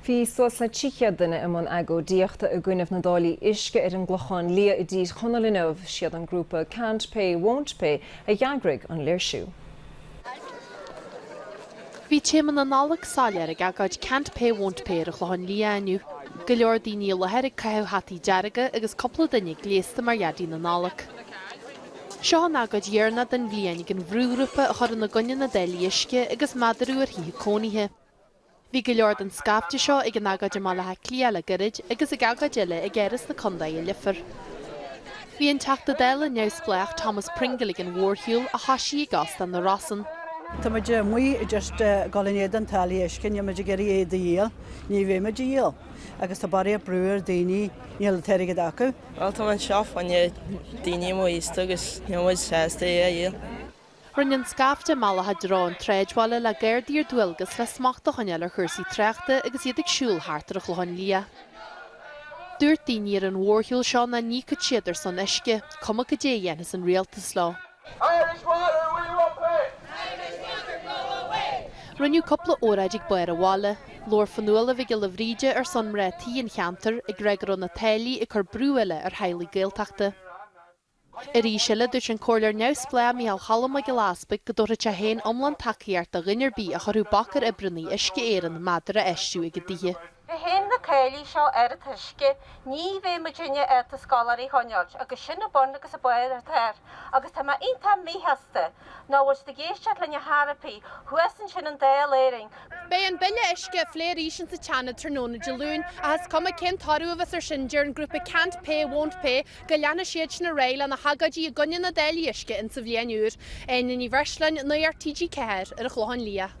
Bhí suas le 300 duine i mbun agóidíochta i gcoinne na dtáillí uisce ar an gClochán Liath i dTír Chonaill inniu. Siad an grúpa Can't Pay, Won't Pay a dh'eagraigh an léirsiú. Bhí téama na Nollag soiléir ag agóid Can't Pay, Won't Pay ar an Chlochán Liath inniu. Go leor daoine i láthair ag caitheamh hataí dearga agus cúpla duine gléasta mar Dhaidí na Nollag. Seo an agóid dheireanach den bhliain ag an bhrúghrúpa a chuireann i gcoinne na dtáillí uisce agus meadaraú ar thithe cónaithe. Bhí go leor den scaifte seo ag an agóid i mBaile Átha Cliath le gairid agus ag agóid eile ag Áras an Chontae i Leifear. Bhí an Teachta Dála neamhspleách Thomas Pringle ag an mhórshiúl a thosaigh i gCósta na Rosann. Tá muid amuigh just ag dul in éadan táillí uisce, níl muid ag iarraidh iad a dhíol, ní bheidh muid á dhíol agus tá barraíocht brú ar daoine, níl an t-airgead acu. Bhuel tá mé anseo fá choinne daoine móraosta agus níl muid sásta é a dhíol. Rinne an scaifte a mbealach tríd an tsráidbhaile le Gardaí ar dualgas le smacht a choinneáil ar chúrsaí tráchta agus iad ag siúl thart ar an Chlochán Liath. Dúirt daoine ar an mhórshiúl seo nach n-íocfadh siad ar son uisce, cuma cad é a dhéanfas an rialtas leo. Irish water we won't pay! Irish water go away! Rinneadh cúpla óráid ag barr an bhaile. Labhair Fionnuala Mhic Giolla Bhríde ar son mná tí an cheantair, ag rá go raibh na táillí ag cur brú eile ar theaghlaigh Gaeltachta. Arís eile, dúirt an Comhairleoir Neamhspleách Micheál Cholm Mac Giolla Easbuig go dtabharfadh sé féin iomlán tacaíocht do dhuine ar bith a chuirfeadh bac ar oibrithe Uisce Éireann méadar a fheistiú ag a dtithe. Leis na táillí seo ar an t-uisce ní bheidh muid in ann ár scoláirí a choinneáil agus sin a bun agus a barr atá air agus tá mé iontach míshásta nach bhfuil siad ag éisteacht linn ar chor ar bith thuas ansin i nDáil Éireann Beidh an bille uisce á phlé arís in sa tSeanad tráthnóna Dé Luain, ach is cuma cén toradh a bheas ar sin deir an grúpa Can't Pay Won't Pay go leanfaidh siadsan ar aghaidh lena n-agóidí i gcoinne na dtáillí uisce in sa bhliain úr. Áine Ní Bhreisleáin, Nuacht TG4, ar an Chlochán Liath.